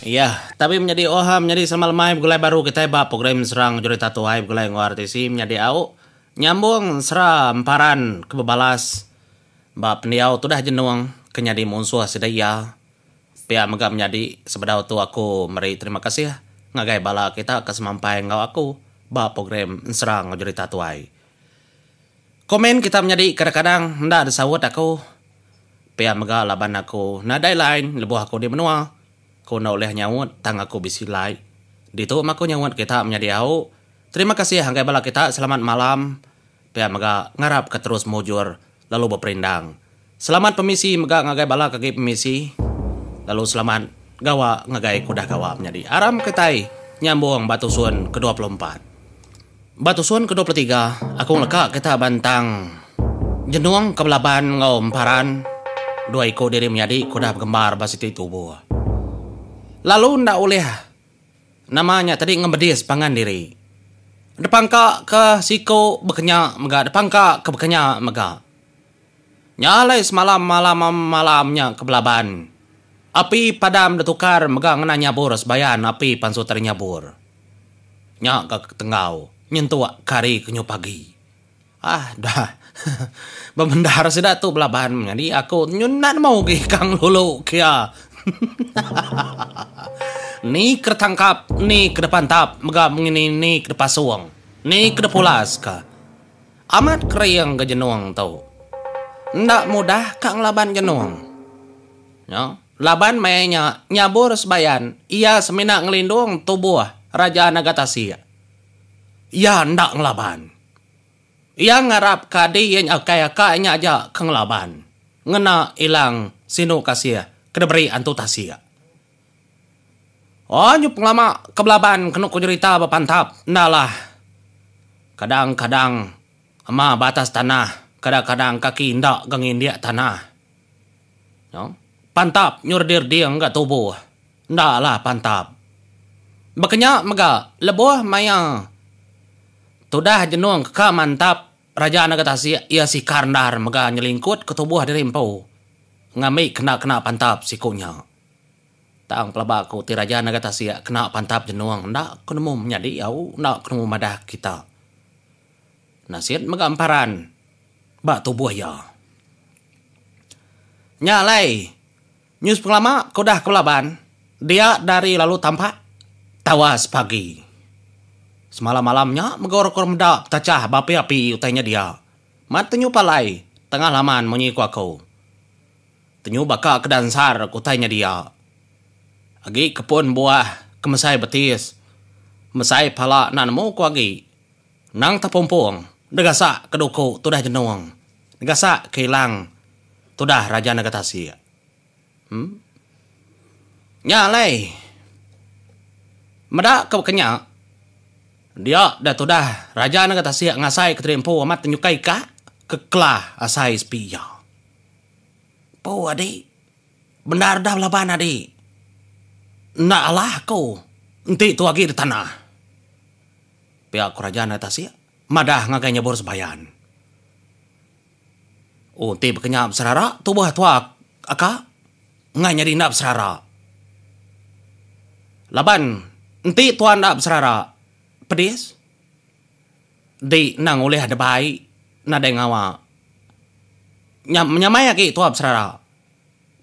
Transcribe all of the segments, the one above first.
Iya, tapi menyadi oha menyadi sama lemai begulai baru kitai ba program serang jurita tuai begulai enggau RTC menyadi au nyambung sera emparan ke bebalas ba pendiau tudah jenung ke nyadi munsuh sida iya pia mega menyadi sebedau tu aku meri terima kasih ngagai bala kita ke semampai enggau aku ba program serang jurita tuai. Komen kita menyadi kadang-kadang enda disaut aku. Pia mega laban aku nadai line lebuh aku di menua. Ku enda ulih nyaut tang aku bisi like. Ditu maku nyaut kita menyadi au. Terima kasih anggai bala kita selamat malam. Pia mega ngarap ke terus mujur lalu beperindang. Selamat pemisi mega ngagai bala ke agi pemisi lalu selamat gawa ngagai ke udah gawa menyadi aram kitai nyambung ba tusun ke dua puluh empat. Ba tusun ke dua puluh tiga aku ngeleka kita ba entang jenung ke belaban enggau emparan dua iku diri menyadi ke udah begembar ba siti tubo lalu enda ulih nama nya tadi ngemedis pangan diri depangka ke siku bekenya mega depangka ke bekenya mega. Nya alai semalam malam malam nya ke belaban api padam ditukar mega ngena nyabur sebayan api pansu tadi nyabur. Nya ga ke tenggau nyentuk ke hari ke nyu pagi. Ah dah bebendar sida tu belaban menyadi aku tu nyu enda nemu agi ka ngelulu kia. Hahahaha ni ke ditangkap ni ke dipantap mega mengini ni ke dipasung ni ke dipulas ka. Amat kering ga jenung tu. Enda mudah ka ngelaban jenung nya laban maya nya nyabur sebayan iya semina ngelindung tubuh Raja Nagatasik. Iya enda ngelaban. Iya ngarap ka di iya nya ukai ka iya nya aja ke ngelaban ngena ilang sinu kasih ke diberi Antu Tasik. Anyu pengelama ke belaban kenu ku nyerita ba pantap enda lah. Kadang kadang ema ba atas tanah, kadang kadang kaki enda ga ngindik tanah. Noh. Pantap nyu redir ding ga tubuh. Enda lah pantap. Baka nya mega lebuh maya tudah jenung ke ka mantap raja enda ga tasik iya sikar endar mega nyelingkut ke tubuh diri empu ngambi kena kena pantap siku nya. Tang pelaba ku ti raja nengah tasik kena pantap jenung enda ku nemu menyadi au enda ku nemu madah kita. Nasit mega emparan ba tubuh iya. Nya alai news pengelama ke udah ku laban dia dari lalu tampak tawas pagi. Semalam malam nya mega orang ke meda betachah ba api-api utai nya dia. Mat penyu palai tengah laman munyi ku aku. Penyu baka ke dansar ke utai nyedia agi ke pun buah ke mesai betis, mesai pala enda nemu ku agi. Nang tepumpung ne gasak ke duku tudah jenung, ne gasak ke ilang tudah raja nega tasik. Em. Nya alai. Meda ke baka nya, dia da tudah raja nega tasik ngasai ke terimpu amat nyukai ka ke kelah asai sepi iya. Poo adi bendar dah laban adi enda alah aku enti tu agi ditanah pia kerajan ari tasik madah ngagai nyebur sebayan ooh enti bekenyau beserara tubuh tua aka ngan nyadi enda beserara laban enti tua enda beserara pedis. Enti endang ulih debai nadai ngawa nya menyamai agi tuah beserara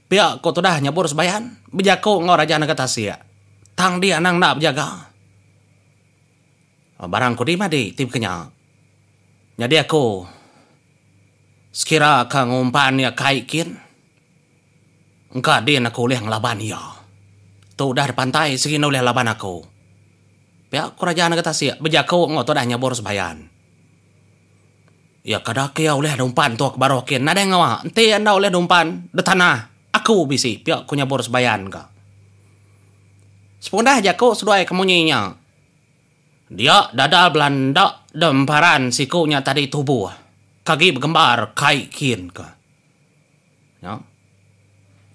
pia ko tudah nyebur sebayan bejaku enggau raja nega tasik tang dia anang enda bejaga barang kudi madi ti baka nya. Nyadi aku sekira ka ngumpan ia kai kin. Engka din aku ulih ngelaban iya. Tu udah dipantai sigi enda ulih laban aku. Pia ku Raja Negeri Tasik bejaku enggau tudah nyebur sebayan. Iya kada ke iya ulih dumpan entuk baruh kin nadai ngawa enti enda ulih dumpan di tanah aku bisi, pia ku nyebur sebayan ka. Sepundah jaku seduai ke munyi nya, dia dadal belanda di emparan siku nya tadi tubuh ka agi begembar kai kin ka. Nya.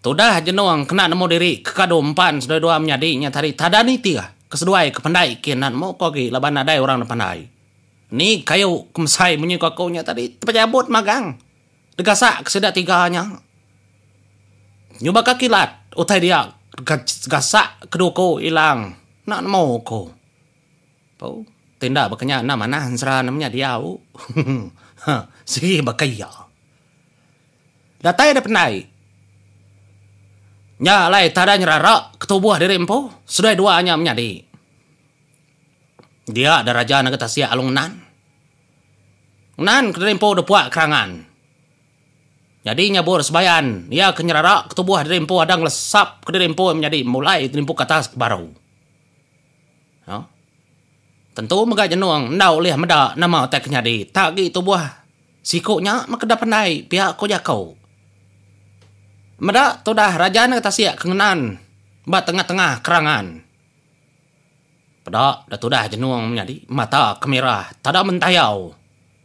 Tudah Jenong kena nemu diri ke kadu empan seduai dua menyadi nya tadi tada nitih ke seduai ke pendai kin enda nemu ko agi laban nadai orang dipandai. Ni kayu ke mesai munyi ko aku nya tadi tepejabut magang degasak ke sida tiga nya nyubaka kilat utai dia gasak ke duko ilang enda nemu ko. Au, ti enda baka nya enda manah ensera ne menya diau. Ha, sigi baka iya. Datai deh pendai. Nya alai tadai nyerara ke tubuh diri empu, seduai dua nya menyadi. Dia deh raja nengah tasik alu ngenan. Ngenan ke diri empu deh puak kerangan. Nyadi nya bur sebayan iya ke nyerara ke tubuh diri empu ada ngelesap ke diri empu menyadi mulai ke diri empu ke atas ke baru. Tentu mega jenung enda ulih meda nama utai ke nyadi tak agi tubuh siku nya makeda pandai pia ko jako. Meda tudah raja nengah tasik ke ngenan ba tengah-tengah kerangan. Peda da tudah jenung menyadi mata ke merah tada mentayau.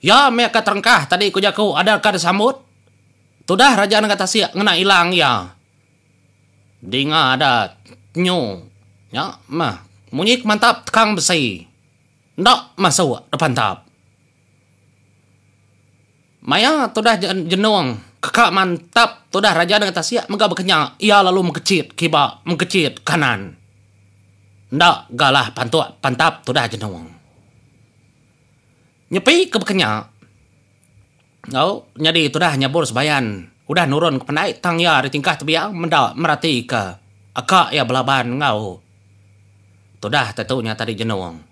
Iya meh ka terengkah tadi ku jaku ada ka disambut. Tudah Raja Negeri Tasik ngena ilang iya. Dinga ada nyu nya meh munyi ke mantap tekang besi enda masuk depan tap. Maya tudah jenung ke ka mantap tudah Raja Negeri Tasik mega bekenya iya lalu mekechit kiba mekechit kanan. Enda galah pantuk pantap tudah jenung. Nyepi ke baka nya, enggau nyadi tudah nyabur sebayan udah nurunka pandai tang iya ari tingkah tebiang meda meratika aka iya belaban enggau tudah tentu nya tadi jenung.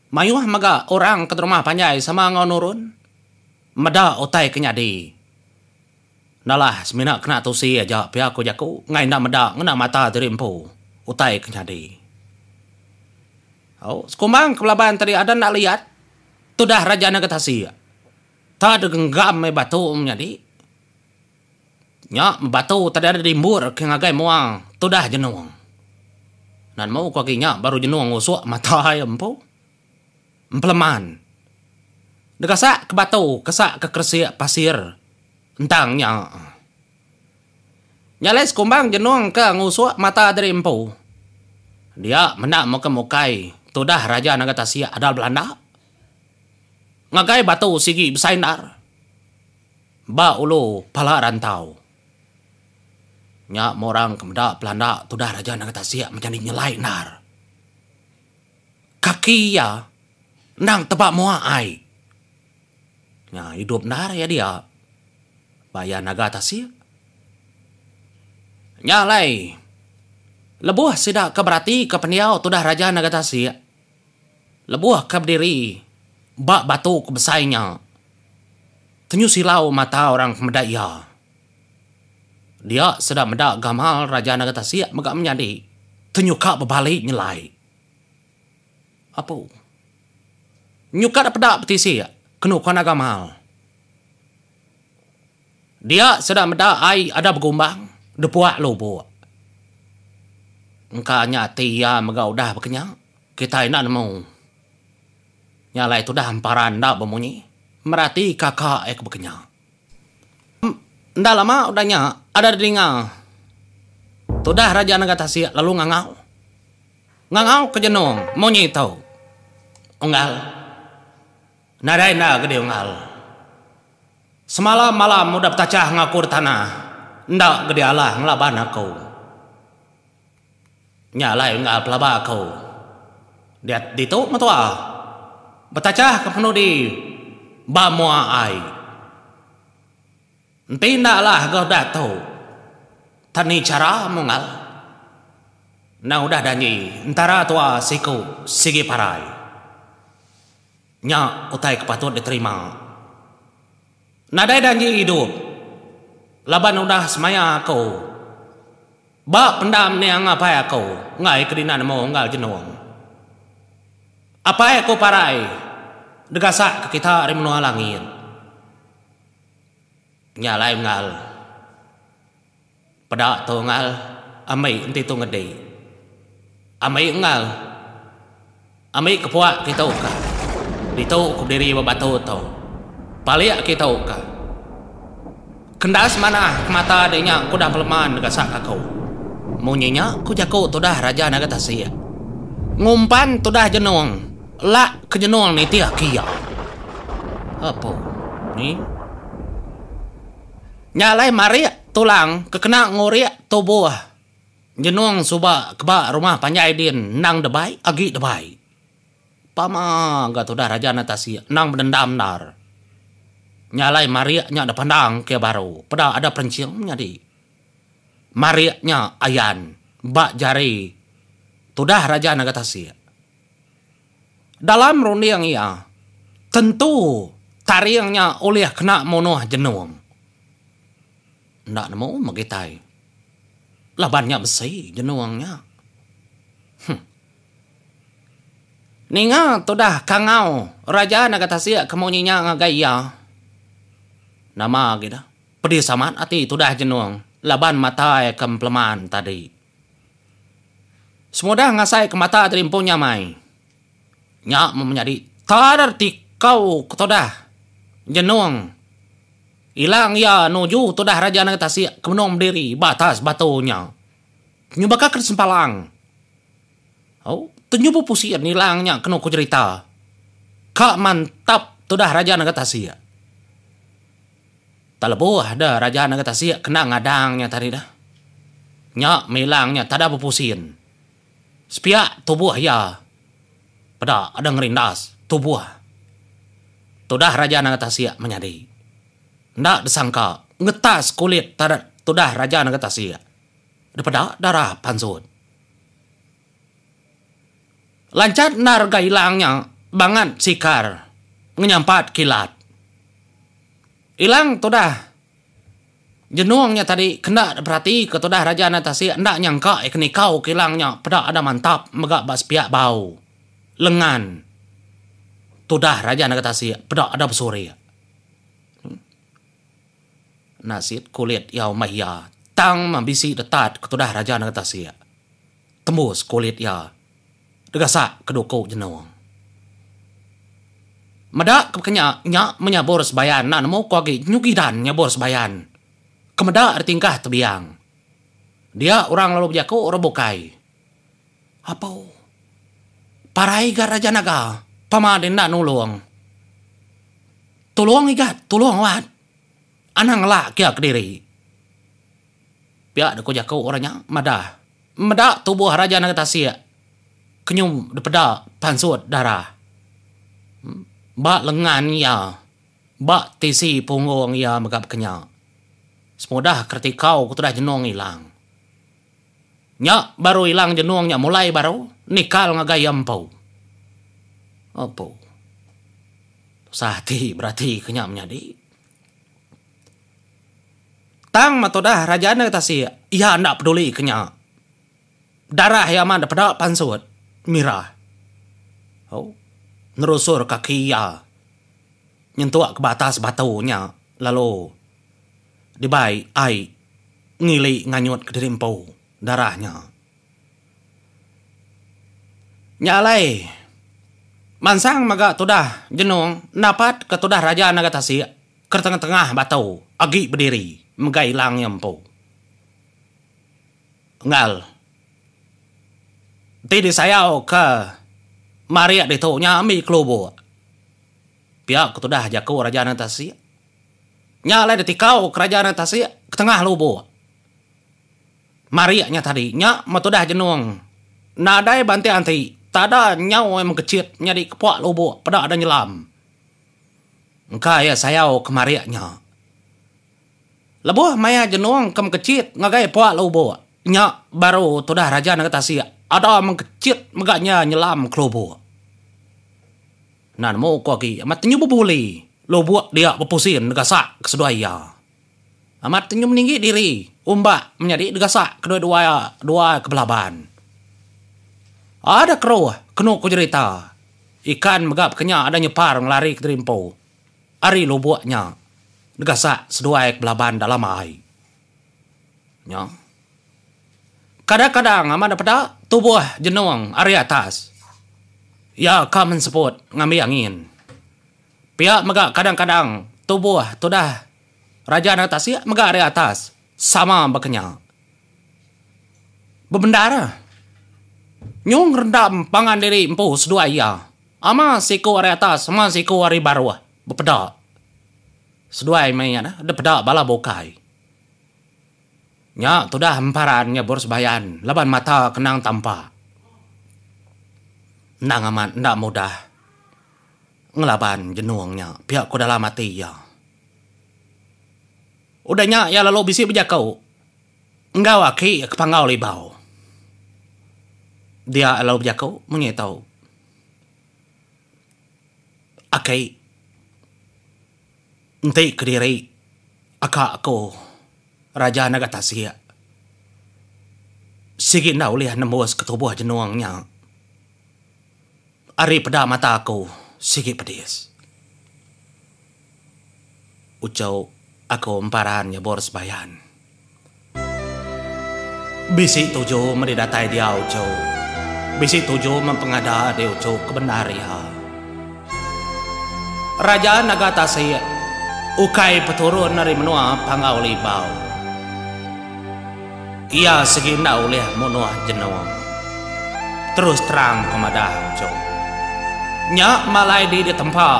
Mayuh mega orang ke derumah panjai sama enggau nurun meda utai ke nyadi. Nalah semina kena tusi aja pia ku jaku enggai enda meda ngena mata diri empu utai ke nyadi. Au, sekumbang ke belaban tadi ada enda liat tudah raja nega tasik. Tau deh genggam meh batu menyadi. Nya batu tadi ada dimbur ke ngagai mua tudah jenung. Nan mou ku agi nya baru jenung usuk mata iya empu. Empeleman. Negasak ke batu kesak ke keresik pasir entang nya. Nyalai sekumbang jenung ke ngusuk mata diri empu. Dia menda muka mukai tudah Raja Naga Tasik Adal Belanda ngagai batu sigi besai endar ba ulu pala rantau. Nya meh orang ke meda pelanda tudah Raja Naga Tasik menyadi nyelai endar. Kaki iya endang teba mua ai. Nya idup endar iya dia ba iya naga tasik. Nya alai lebuh sida ke beratika pendiau tudah Raja Naga Tasik lebuh ke bediri ba batu ke besai nya tenyu silau mata orang ke meda iya. Dia sedar meda gamal Raja Naga Tasik mega menyadi ke nyuka bebali nyelai. Apu. Nyuka da peda betisi kenu ku anak gamal. Dia sedar meda ai ada begumbang dipuak lubuk. Engka nya ati iya mega udah bekenya, kitai enda nemu. Nya alai tudah emparan enda bemunyi, meratika ka ai ke bekenya. Enda lama udah nya, ada dininga tudah Raja Naga Tasik lalu ngangau. Ngangau ke jenung munyi tu. Unggal. Nadai enda ke diunggal. Semalam-malam udah betachah enggau aku di tanah, enda ke dialah ngelaban aku. Nya alai enggal pelaba aku. Diat ditu metua. Betachah ke penudi ba mua ai. Enti enda alah ga udah tu tan ni chara munggal. Endang udah janji entara tua siku sigi parai. Nya utai ke patut diterima. Nadai janji idup laban udah semaya aku ba pendam niang apai aku enggai ke dina nemu unggal jenung. Apai aku parai degasak ke kita ari menua langit. Nya alai unggal. Peda tu ngal ami enti tu ngedi. Ami ngal ami ke puak kitu ka. Ditu ku bediri ba batu tu. Palik kitu ka. Kendas manah ke mata adi nya ku udah meleman deka sak kaku. Munyi nya ku jaku tu udah raja naga tasik. Ngumpan tu udah jenung lak ke jenung nitih ke iya. Apo ni. Nya alai marik tulang ke kena ngurik tubuh nyenung suba ke ba rumah panjai din endang debai agi debai. Pama ga tudah Raja enda tasik endang bedendam endar. Nya alai marik nya dipandang ke baru peda ada perenching menyadi. Marik nya ayan ba jari tudah Raja Naga Tasik. Dalam runding iya, tentu taring nya ulih kena munuh jenung. Enda nemu meh kitai laban nya besi jenung nya. Huh. Ninga tudah kangau Raja Naga Tasik ke munyi nya ngagai iya. Nama gida, pedis amat ati tudah jenung laban matai ke empeleman tadi. Semudah ngasai ke mata gerimpung nya amai. Nya meh menyadi tar tikau ke tudah nyenung ilang iya nuju tudah Raja Negeri Tasik ke benung bediri ba atas batu nya. Nyuba ka ke sempalang. Au, tenyupu pusin ilang nya kenu ku jerita. Ka mantap tudah Raja Negeri Tasik. Tang lebuh deh Raja Negeri Tasik kena ngadang nya tadi deh. Nya Milang nya tada bepusin. Sepiak tubuh iya peda deh ngerindas tubuh. Tudah Raja Negeri Tasik menyadi. Enda disangka ngetas kulit tudah Raja Negeri Tasik dipeda darah pansut. Lancat endar ga Ilang nya bangat sikar ngenyampat kilat. Ilang tudah Jenong nya tadi kenda diperatika tudah Raja Anak Tasik enda nyangka iya ke nikau ke Ilang nya peda ada mantap mega ba sepiak bau lengan tudah Raja Naga Tasik peda ada besurik. Nasit kulit iya umbah iya tang meh bisi detat ke tudah Raja Naga Tasik. Tembus kulit iya degasak ke duku jenung. Meda ke baka nya, nya menyabur sebayan enda nemu ko agi nyugi dan nyabur sebayan ke meda ari tingkah tebiang. Dia orang lalu bejaku orang bukai, Apo parai ga Raja Naga pama deh enda nulung. Tulung igat, tulung wat. Anang ngelak ke iya kediri. Pia deka jaku orang nya madah. Meda tubuh Raja Naga Tasik kenyum dipeda pansut darah ba lengan iya, ba tisi punggung iya mega bekenya. Semudah keretikau ke tudah jenung ilang. Nya baru ilang jenung nya mulai baru nikal ngagai iya empu. Apu. Tusah ati beratika nya menyadi. Tang matu dah raja nda tasik iya nda peduli ke nya. Darah iya amat peda pansut mira oh nerusur kaki iya nyentuk ke batas batu nya lalu dibai ai ngili nganyut kediri empu darah nya. Nya alai mansang mega tudah jenung napat ke tudah raja naga tasik. Ketengah-tengah batu agi bediri mega ilang iya empu. Enggau enti disayauka marik ditu nya ambi kelubuk. Pia ke tudah jaku Raja Nang Tasik. Nya alai ditikauka Raja Nang Tasik ketengah lubuk. Marik nya tadi nya meh tudah jenung nadai banting ati tada nyau mengkechit nyadi kepak lubuk peda deh nyelam. Engka iya sayau ke marik nya. Lebuh maya Jenong ke Mengkechit ngagai Puak Lubok, nya baru tudah Raja Negeri Tasik Ada Mengkechit mega nya nyelam ke lubok. Enda nemu ko agi amat nyebuli lubok dia bepusin gasak ke seduai iya. Amat tenyum ninggi diri umbak menyadi degasak kedua-dua dua ke belaban. Ada keruh kenu ku jerita, ikan mega baka nya ada nyepar ngelari ke terimpu ari lubuk nya degasak seduai ke belaban dalam ai. Nya. Kadang-kadang amat dipeda tubuh jenung ari atas iya ka menseput ngambi angin. Pia mega kadang-kadang tubuh tudah Raja Nanga Tasik mega ari atas sama baka nya. Bebendar nyung rendam pangan diri empu seduai iya. Ama siku ari atas ama siku ari baruh bepeda. Seduai meh iya deh peda bala bukai. Nya tudah emparan nyebur sebayan laban mata kenang tampak. Endang amat enda mudah. ngelaban jenung nya pia ko dalam ati iya. Udah nya iya lalu bisi bejako enggau aki ke panggau libau. Dia iya lalu bejako mung nyi tau Aki enti kediri aka ko Raja Naga Tasik sigi enda ulih nembus ke tubuh jenung nya. Ari peda mata aku sigi pedis. Uchu aku emparan nyebur sebayan. Bisi tuju meri datai dia uchu. Bisi tuju mempengada di uchu ke bendar iya. Raja Naga Tasik ukai peturun ari menua Panggau Libau. Iya sigi enda ulih munuh jenung. Terus terang ke madah Encho. Nya malai di ditempa,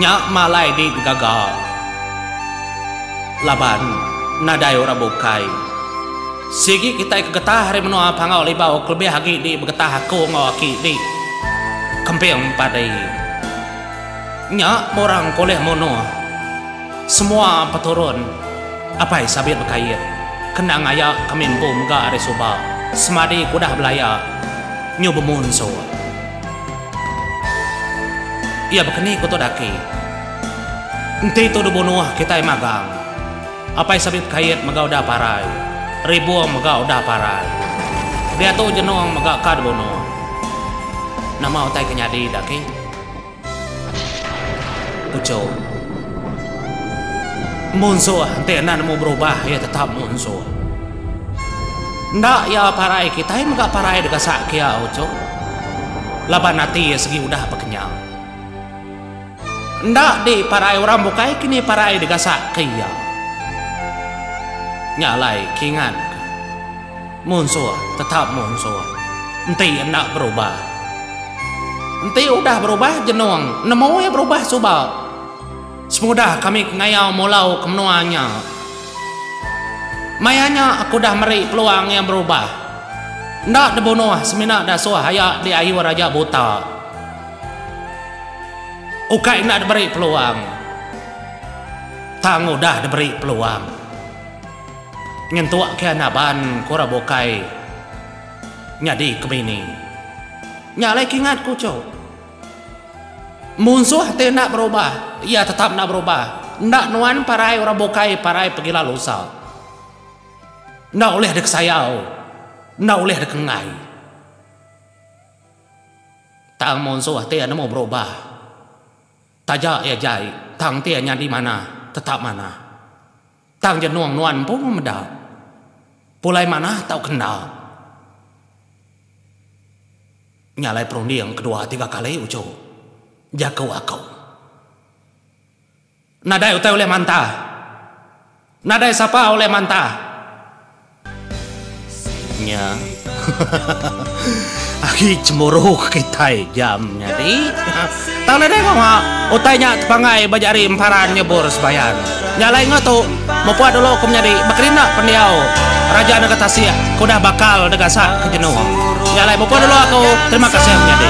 nya malai di digaga. Laban, nadai orang bukai. Sigi kitai ke getah ari menua Pangau Libau kelebih agi di begetah aku enggau aki di kemping padi. Nya murang ke ulih munuh. Semua peturun Apai Sabit Bekayit kena ngaya kami empu mega ari suba semadi ke udah belaya nyu bemunsur. Iya bekeni ku Tok Daki. Enti tu dibunuh kitai magang. Apai Sabit Bekayit mega udah parai. Ribung mega udah parai. Diatu Jenong mega ka dibunuh. Nama utai ke nyadi, Daki? Ucok. Empu ensu ah enti enda nemu berubah iya tetap empu ensu. Enda iya parai kitai mega parai deka sak kia ucok. Laban ati iya segi udah bekenyang. Enda di parai orang bukai kini parai deka sak ke iya. Nya alai kingan ka. Munsuh tetap munsuh. Enti enda berubah. Enti udah berubah jenung nemu iya berubah suba. Semudah kami ke ngayau mulau ke menua nya. Maya nya aku dah meri peluang iya berubah. Enda dibunuh semina dasuh aya di ayu raja buta. Ukai enda diberi peluang. Tang udah diberi peluang. Nyentuk ke naban ku orang bukai nyadi ke bini. Nya alai kingat ku cuk. Munsuh ti enda berubah iya tetap enda berubah. Enda nuan parai orang bukai parai pegila lusa. Enda ulih dikesayau, enda ulih dikenggai. Tang munsuh ti nemu berubah taja iya jai tang ti nyadi manah tetap manah. Tang jenung nuan empu memeda. Pulai manah tau ke enda. Nya alai perunding kedua tiga kali uchu. Jaku aku. Nadai utai ulih mantah. Nadai sapa ulih mantah. Nya. Agi cemburu ke kitai jam nya ti. Tang nadai ngawa utai nya tepangai ba jari emparan nyebur sebayan. Nya alai enggau tu, mepuh dulu ku menyadi bekerinda pendiau Raja Negeri Tasik ke udah bakal deka sak ke jenuh. Nya alai mepuh dulu aku. Terima kasih menyadi.